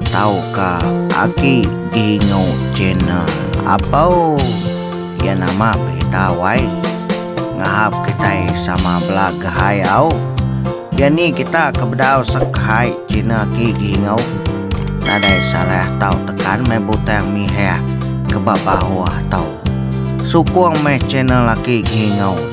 Tauka agi dingu channel apau iya nama berita wai ngahap kitai sama belagah ai au iya ni kita ke bedau sekhai channel ti dingu nadai salah tau tekan meh butang mihah ke ba bawah tu sukung meh channel aki dingu.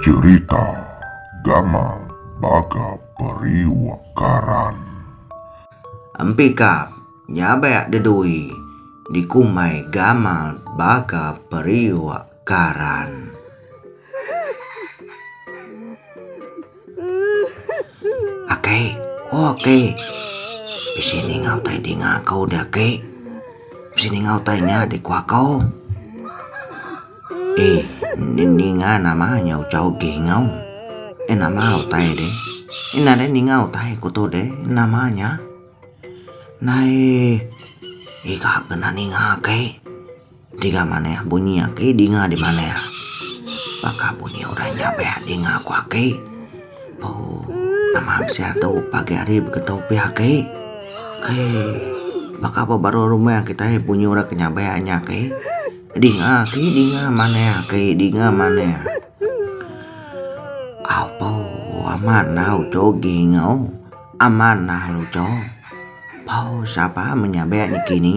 Cerita gamal baka periuk karan. Empikap nyabak dedui dikumbai gamal baka periuk. Karan. Aki, oh aki. Bisi ninga utai dinga kau dah aki. Bisi ninga utai nya di kuah kau. Eh, ni ninga nama nya ucha ugi ngau. Eh nama utai deh. Ina deh ninga utai ku tu deh. Nama nya. Nai, iga kena ninga aki. Tiga manah bunyi aki dinga di manah. Baka bunyi orang nya be dinga ku aki. Puu nama bisian tu pagi hari beketu pia aki. Kai baka ba baruh rumah kitai bunyi orang ke nyabai nya aki. Dinga aki dinga manah aki dinga manah. Au puu amat nah uchu gingau amat nah uchu. Puu sapa menyabai niki ni.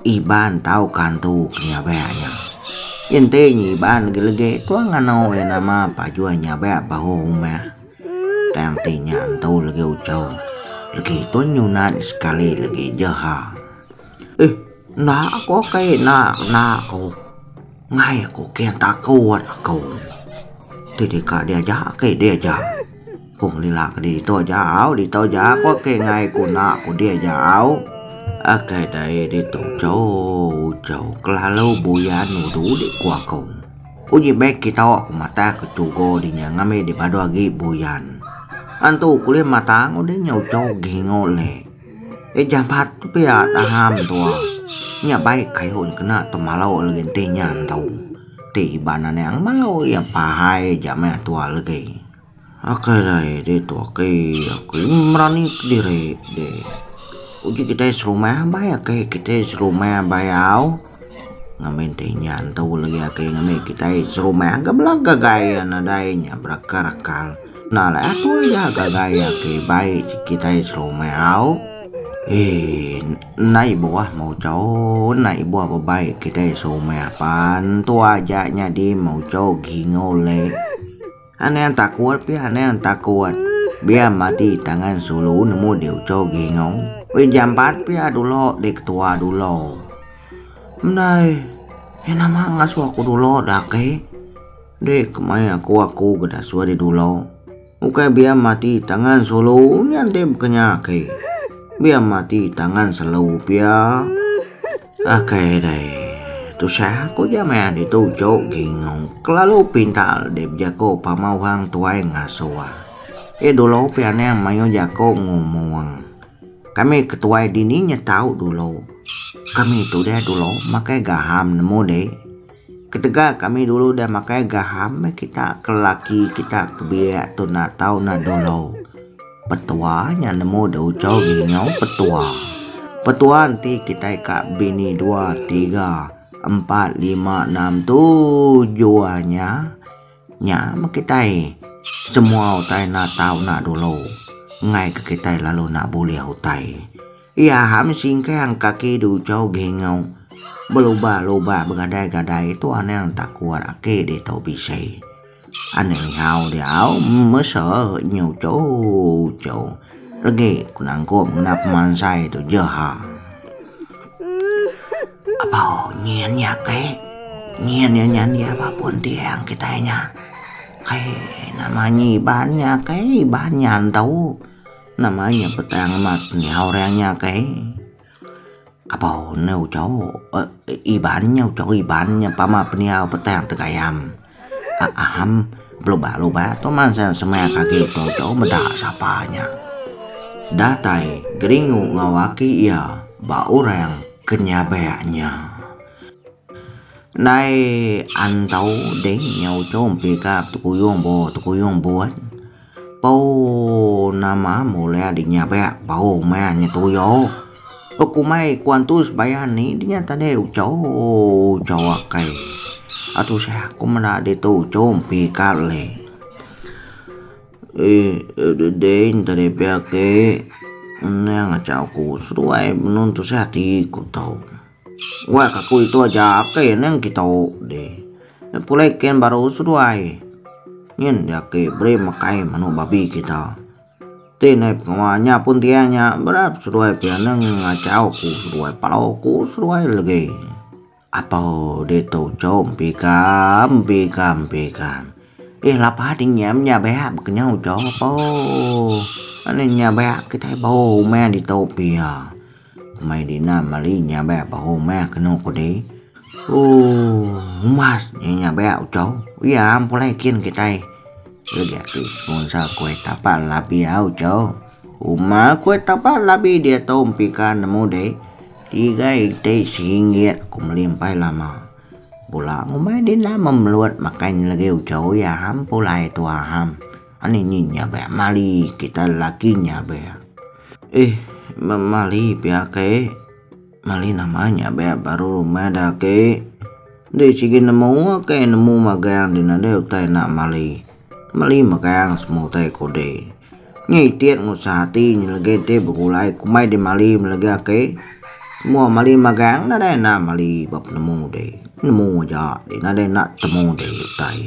Iban tau kantu ke nyabak nya. Enti nya Iban legi-legi tua nganu iya nama Pajoi nyabak bahu rumah. Tang ti nya entu legi ujau. Legi pun nyunat sekali legi jeha. Eh enda ko kai enda enda ko. Ngai aku ken taku wan aku. Ti deka diaja ke diaja. Ku ngelila ke ditu aja au ditu aja ko ke ngai ku na ku diaja au. Akai dai ditu chau chau kelalu buyan ulu dik ku aku. Uji beg kita wak ku matai ke tugo dinya ngambi di badu agi buyan. Antu ku ulih matang udah nyau chau gingu le. Ih jampat pia taham tua. Nya baik kayuh nya kena tu malau legi enti nya entu. Ti Iban anang malau iya pahai ja meh tua legi. Ok alai ri tu ok ok berani kediri. Uji kitai serumah bai ok kitai serumah bai au. Ngamin ti nya entu legi agi ngemi kitai serumah ga bela ga gaya nadai nya berakar akal. Enda alai aku aja ga gaya agi bai kitai serumah au. Eee enda ibuh mucho enda ibuh ba bai kitai serumah pan entu aja nyadi mucho gingau leh. Anang takut pia anang takut. Biar mati tangan sulu nemu di uco gingong. Weh jampat pia dulo di ketua dulo. Mdai, ya nama ngasu aku dulo dak ke? Di kemai aku aku ke dak suah di dulo. Ukai biar mati tangan sulu nya enti bkenya ke. Biar mati tangan selu pia. Okey deh. Tusah aku ja maya ditu cuk gingung kelalu pintar deh bejako pama orang tuai ngasuh. Ye dulu pih anang maioh jako ngomong. Kami ke tuai dini nyetau dulu. Kami tu deh dulu makai gaham nemu deh. Ketegal kami dulu udah makai gaham meh kita ke lelaki kita ke biak tu enda tau enda dolo. Petua nya nemu da ucho nginyo petua. Petua enti kitai ka bini dua tiga empat lima enam tujuh a nya nya meh kitai semua utai enda tau enda dolo ngaika kitai lalu enda bulih utai. Iya ham singkang kaki duchau gengau belubah lubah begadai gadai tu anang takut ake ditau bisai. Anang nyau diau mesa nyu chau chau legi ku nangkup ngena pemansai tu je ha. Abau nyin nya ke nyin nya nyan dia ba pun tiang kitai nya kai nama nyi iban nya kai iban nya ntau. Nama nya petang amat nyau orang nya kai? Abau ne uchau Iban nya uchau Iban nya pama pendiau petang tegayam. Aam belubah lubah tu mansang semaya ke agi tu uchau meda sapa nya. Datai Geringu enggau aki iya ba orang ke nyabak nya. Ndai antau ding nya uchau mpi ka Tekuyung Bo Tekuyung Bo. Pau nama mula di nya be pau maya nya tuyo buk kumai ku antu sebayan ni di nya tade ucho ucho akai atusa ku meda ditu ucho mpi ka le um dei nta de pe ake nang acha ku seduai benung tusa ti ku tau. Weh kaku itu aja ake neng kitu deh. Pulai ken baru seduai. Nyin dia ake beri mekai manu babi kita. Ti nai pengawa nya pun tiang nya berap seduai pia neng ngachau ku seduai palo ku seduai legi. Apau ditu cu empika empika empika. Ih lapa ding nya nya beak bekenyau cu apo. Ane nya beak kitai bau uman ditu pia. Mai Dina meli nyabek bahu meh kenu ku deh. Ooh umas nya nyabek uchow iya am pulai kin kitai. Legi ati ngunsa kuih tapa labi au uchow. Uma kuih tapa labi diatu empika nemu deh. Tiga iti seringgit aku meli empai lama. Pula ngumbai Dina memelut makai nya legi uchow iya am pulai tuha am. Ani nyi nya be mali kita laki nya be. Eh memali pia ke. Mali nama nya be baru rumah da ke. Di sigi nemu ke nemu magang di nadai utai nak mali. Mali magang semua utai ko de. Nya itit ngusah ati nyi legi ti begulai kumbai di mali legi ake. Semua mali magang nadai nak mali ba penemu de. Nemu aja di nadai nak temu de utai.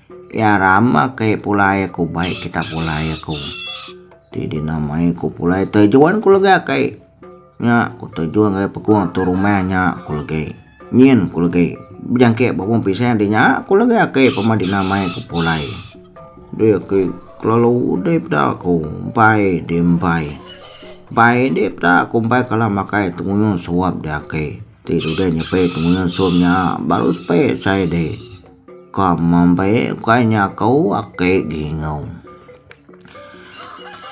Iya rama ke pulai ku bai kita pulai ku. Ti di namai ku pulai tejuan ku lega ke. Nya ku tejuan ke pekung tu rumah nya ku legi. Nyin ku legi bejangkit ba pun pisang di nya ku lega ke pema di namai ku pulai. Dia ke kelalu udai peda ku empai di empai. Empai di peda ku empai kala makai tengunyung suap di ake. Ti dudai nyepai tengunyung suap nya baru sepai sai di. Ka mambai ukai nya aku ake gingau.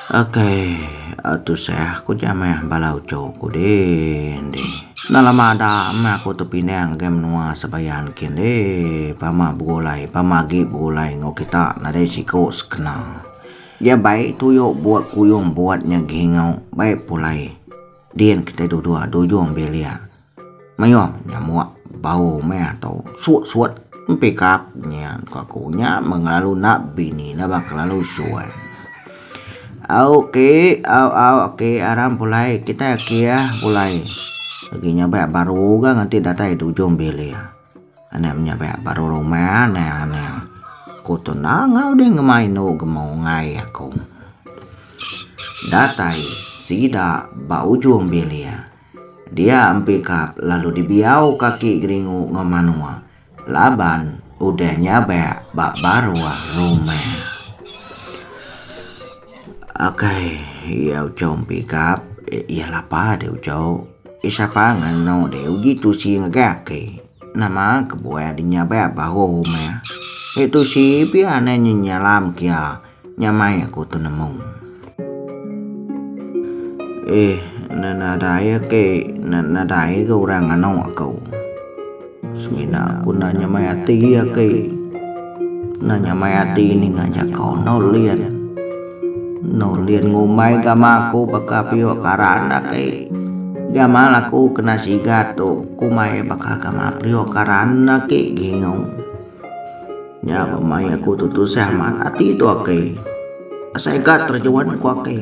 Akai tusah ku ja meh bala uchu ku din di. Enda lama ada meh aku tepinang ngagai menua Sebayan kin di pama begulai pama agi begulai enggau kita nadai siku sekena. Dia bai tuyo buat kuyung buat nya gingau bai pulai din kitai duduk dujung bilik. Mayuh nyamuk bau meh tu sut-sut empikap nya ku aku nya meh ngelalu enda bini enda ba kelalu suai. Au ke au au ke aram pulai kitai ake ia pulai agi nya ba baru ga nganti datai di ujung bilik enda nya ba baru rumah anang anang ku tu nangau deh ngema inu ngema ungai aku datai sida ba ujung bilik. Dia empikap lalu dibiau kaki geringu enggau manua laban udah nyabak ba baruh rumah. Ok iya ucau empikap iya lapa deh ucau. Iya sapa nganu deh uji tusi ngagai ake. Nama kebuah dinya baya bahu meh. Nya tu si pia anai nya nyalam kia nya mai aku tu nemu. Eh, nadai ake, nadai ke orang nganu aku. Semina aku nanya mai ati ake. Kena nyamai ati ninga jako Nor Lien. Nor Lien ngumbai gama aku baka piok karan aki. Gama laku kena sigat tu ku mai baka gama priok karan aki gingung. Nya ba mai aku tu tusah amat ati tu aki. Asai ka terjun ku aki.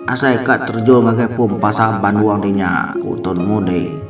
Asai ka terjun ngagai pum pasar banduang dinya ku Tun Mudi.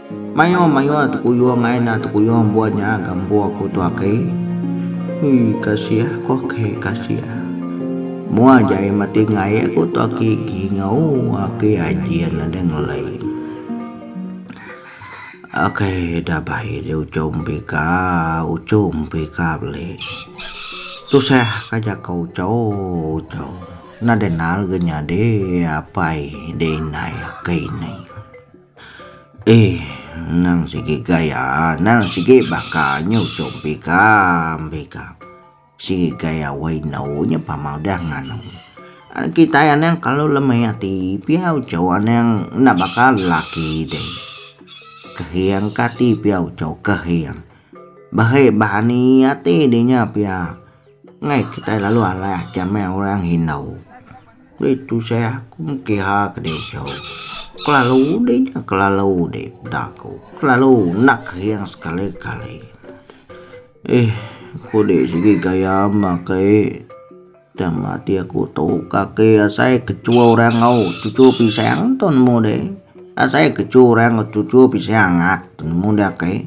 Mayuh mayuh tekuyung ai nah tekuyung buah nya gambu aku tu aki. Ui kasih aku aki kasih. Mua jai mati ngai aku tu aki gingau aki ajin ada ngelai. Akai dah bai ri uchu mpi ka uchu mpi ka beli. Tusah ka jaku uchu uchu nadai nal ga nyadi apai dei nai aki nai. Eh, nang sigi gaya, nang sigi baka nyu cung pikam, pikam. Sigi gaya wai endu nya pama udah nganu. Ari kitai anang kalu lemi ati pia uchu anang enda baka lelaki deh. Kehing kati pia uchu kehing. Bahi bahani ati deh nya pia. Enggai kitai lalu alai ati amai orang Hindau. Deh tusai aku mengkiha ke deh jauh. Kelalu deh nya kelalu deh peda aku. Kelalu enda kering sekali kali. Eh ku deh sigi gaya mba kai tama ati aku tu kaki asai kechu orang au cucu pisang tu nemu deh. Asai kechu orang au cucu pisang ngat nemu deh kai.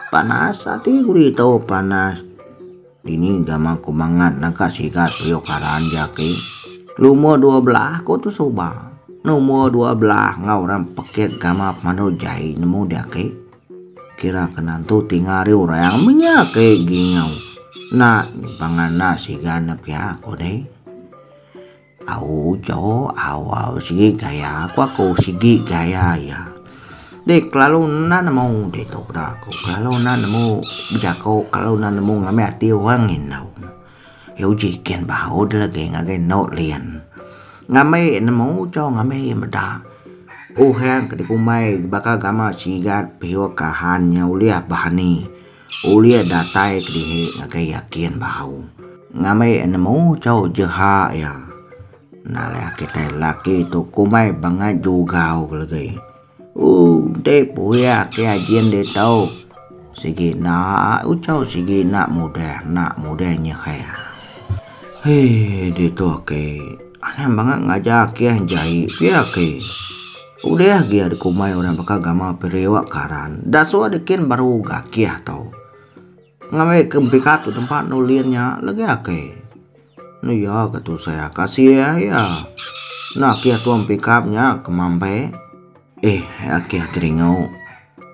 Panas ati ku deh tau panas. Dini Gama ku mangat naga sigat riuk karan ja ki. Lumur dua belah ku tu suba. Numur dua belah enggau orang pekit Gama Pemandu Jai nemu dia ki. Kira ke nantu tinga ari orang menya ki gingau. Nak pangan nak sigan ne pia ku deh. Au jo au au sigi gaya ku aku sigi gaya iya. Deh kelalu enda nemu deh tu peda aku kelalu enda nemu bejaku kelalu enda nemu ngambi ati orang indu. Ye uji ken bau de legi ngagai eno lien. Ngambi nemu cho ngambi ye meda uhan ke dikumbai baka gamak sigat piyok kahan nya ulih bah ni. Ulih datai ke dihi ngagai yakin bahau. Ngambi nemu chau jeha iya. Nalai kitai laki tu kumbai bangat jugau legi. Ooh enti pui ake ajin ditu. Sigi enda uchu sigi enda mudah enda mudah nyehe. Hee ditu ake anang bangat ngajar ake jai pia ake. Ulih agi ya dikumbai orang baka gamal periuk karan da suah dikin baru gakih tau. Ngambi ke empika tu tempat enda ulih nya legi ake. Enu ya ke tusah ka sia ya. Enda ake tua empika nya ke mambe. Eh ake teringau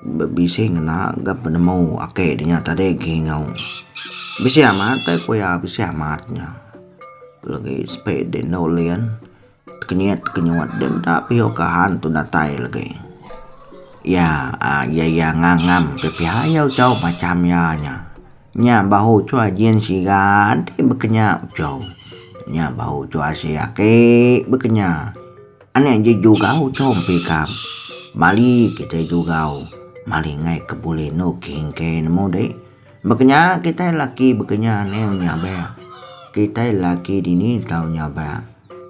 be bisi ngena ga penemu ake dinya tadi gingau. Bisi amat tai ku iya bisi amat nya. Legi sepe di enda ulih. Tekenyit tekenyut dia enda pio ka han tu datai legi. Iya iya iya ngang ngang pia iya ucau macham iya nya. Nya bahu ucau jin siga enti bekenya ucau. Nya bahu ucau asi aki bekenya. Ane ji juga ucau empi ka bali kitai juga mali ngai ke bulih inu kingkey nemu deh. Baka nya kitai laki bekenya anil nyabak kitai laki dini tau nyabak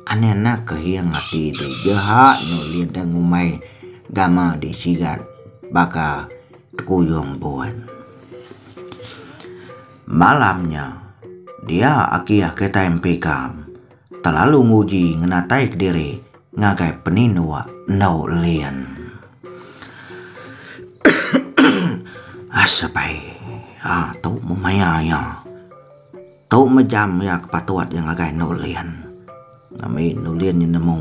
anil anak ke hiang ati di jeha enu lideng umai dama di sigat baka tekuyung buan. Malam nya dia aki kitai empi kam. Telalu nguji ngenatai kediri ngagai peninua endu lien. Asp. A tu meh maya iya. Tu meh jam iya ke patut iya ngagai endu lien. Ngambika endu lien nemu.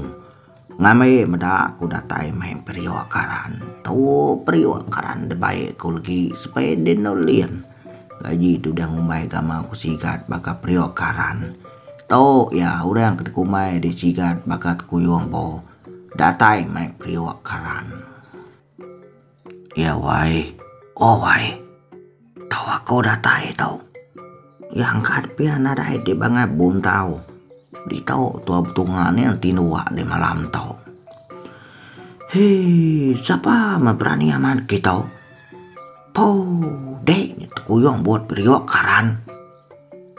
Ngambi meda aku datai mai periuk karan tu periuk karan dibai ku legi supaya deh nulin gaji tu udah ngumbai gamal ku sigat baka periuk karan tu ya orang ke dikumbai deh sigat baka tekuyung bo datai mai periuk karan. Ya wai. Oh wai. Tau aku datai tau. Ya angkat pia nadai di bangat bun tau. Di tau tua betunga ni enti nuak di malam tau. Hee sapa me berani amat ki tau. Poo dek tekuyung but periuk karan.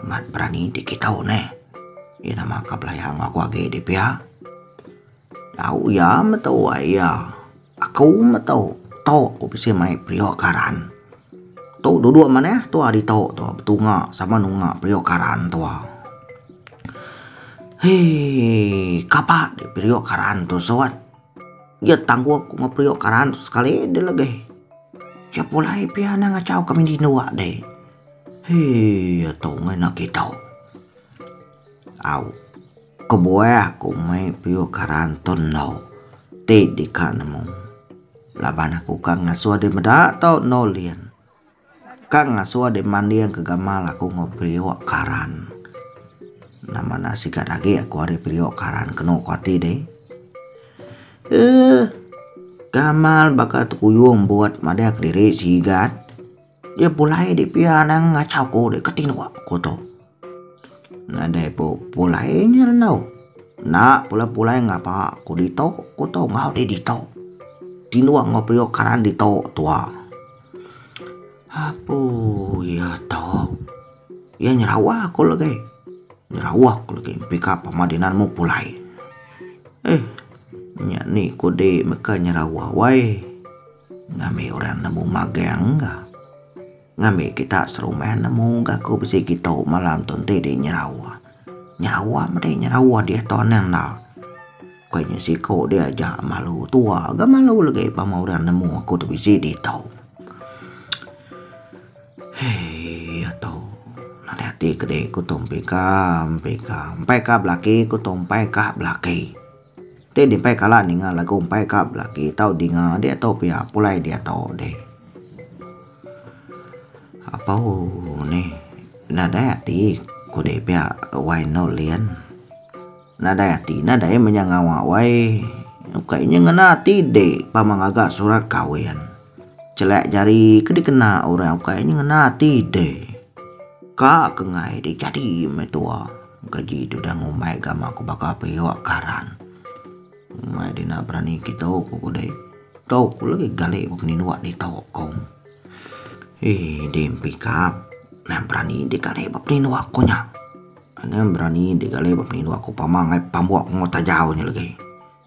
Mat berani di ki tau neh. Iya nama ka belaya ngaku agi di pia. Tau iya meh wai iya. Aku meh tu tu ku bisi mai periok karan. Tu duduk manah tu ari tu tu betunga sama nunga periok karan tu. Hee kapa deh periok karan tu sot. Ye tanggup ku periok karan tu sekali deh legeh. Ke pulai pia na ngachau kami dindua deh. Hee ye tu ngena kitu. Au. Kebuah aku mei peyuh karan tu endur. Ti dika nemu. Laban aku ka ngasuh deh meda tau endur lien. Ka ngasuh deh manding ke gamal aku enggau peyuh karan. Nama enda sikat agi aku ari peyuh karan kenu ku ati deh. Eeh. Gamal baka tekuyung buat madah kediri sigat. Dia pulai deh pia nang ngachau ku deh ke ti nuak ku tu. Nadai pu pulai nya enggau. Enda pula pulai ngapa ku ditu ku tu enggau deh ditu. Tinung enggau periuk karan ditu tuwa. Apu iya tu. Iya nyerawa ku legi. Nyerawa ku legi mpi ka pama dina nemu pulai. Eh nya ni ku di meka nyerawa wai. Ngambi orang nemu magang ka. Ngambi kita serumah nemu ga ku bisi kitu malam tu enti dih nyerawa. Nyerawa meda nyerawa diah tu anang enda. Ko inya siko dih aja malu tua ga malu legi pama orang nemu aku tu bisi dih tu. Hei iya tu nadai ati ke dih ku tu mpi ka mpi ka mpai ka belaki ku tu mpai ka belaki. Ti di empai kala ninga lagu empai ka belaki tau dinga diatu pia pulai diatu deh. Apau neh nadai ati kudi pia wai eno lien. Nadai ati na dai menya ngawa wai ukai inya ngena ati di pama ngaga surat kawin. Chelek jari ke dikena orang ukai inya ngena ati deh. Ka ke ngai di jadi me tua. Keji tu dah ngumbai gama ku baka periuk karan. Mai dina berani kitu ku kudai. Tu ku legi gali bepeninduk ditu ku. Ih din pikap nan berani digali bepeninduk ku nya. Nan berani digali bepeninduk ku pama ngai pambuk enggau tajau nya legi.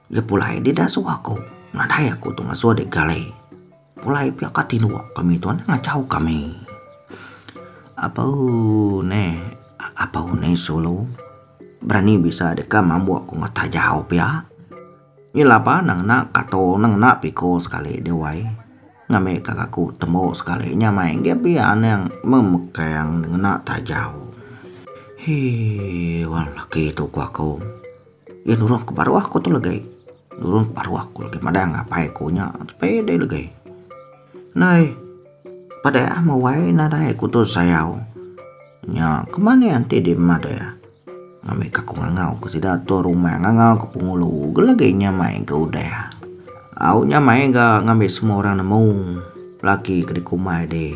Lepulai deh da suah ko. Nadai aku tu ngasuh deh gale. Pulai pia ka tinduk kami tuan ngachau kami. Apau neh apau neh sulu berani bisa deka mambuk ku ngat tajau pia. Nyi lapa na ngena kato na ngena piko sekali deh wai. Ngambi ka aku tembo sekali nya mai nggih pia anang memekang ngena tajau. Hee wan laki tu ku aku. Iya nurung ke baruh aku tu legai. Nurung ke baruh aku legai madang apai aku nya pede legai. Nai peda ah mawai nadai aku tu sayau. Nya kemane enti di meda ah ngambi ka ku ngangau ke sida tu rumah ngangau ke pengulu ke legi nya mai ke udah. Au nya mai ga ngambi semua orang nemu laki ke di kumbai di.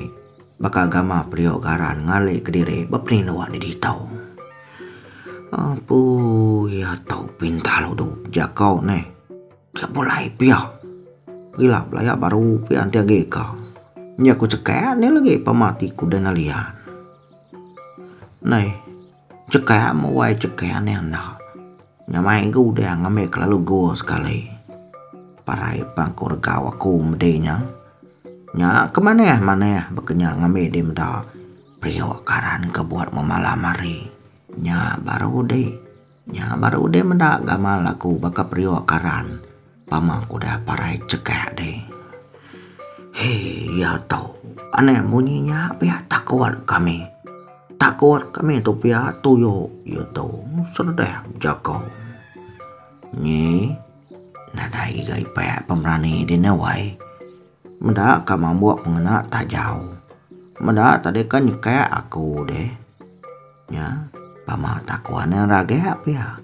Baka gama periuk garan ngali kediri beperindu ati ditou. Apu iya tau pintar udu jako neh. Dia pulai pia. Pila pula iya baru pia enti agi ka. Nya ku ceka neh legi pama ti ku dena lian. Neh ceka muai ceka neh enda. Nya mai ga udah ngambi kelalu go sekali. Parai pang ko regau aku medi nya. Nya ke manah manah bekenyang ngambi di meda periuk karan ke buat memalam hari. Nya baru di nya baru di meda gamal aku baka periuk karan pama ku udah parai chekak di. Hee iya to anang munyi nya pia takut kami. Takut kami tu pia tuyok iya to seredah bejako. Nyi. Nadai ga ipak pemerani di ne wai. Meda ka mambuk pengena tajau. Meda tadika nyekak aku deh. Nya pama takon ne ragak pia.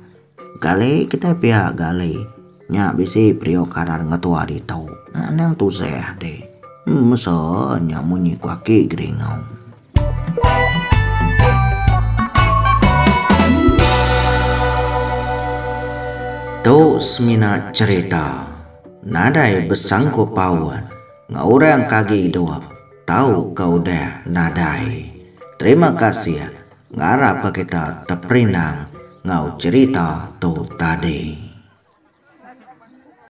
Gali kitai pia gali. Nya bisi periuk karan ngetua ditu. Anang tusah deh. Mesa nya munyi ku aki Geringau. Tu semina cherita nadai besangkup paut enggau orang ke agi idup tau ke udah nadai. Terima kasih ngarap ke kita teperinang enggau cherita tu tadi.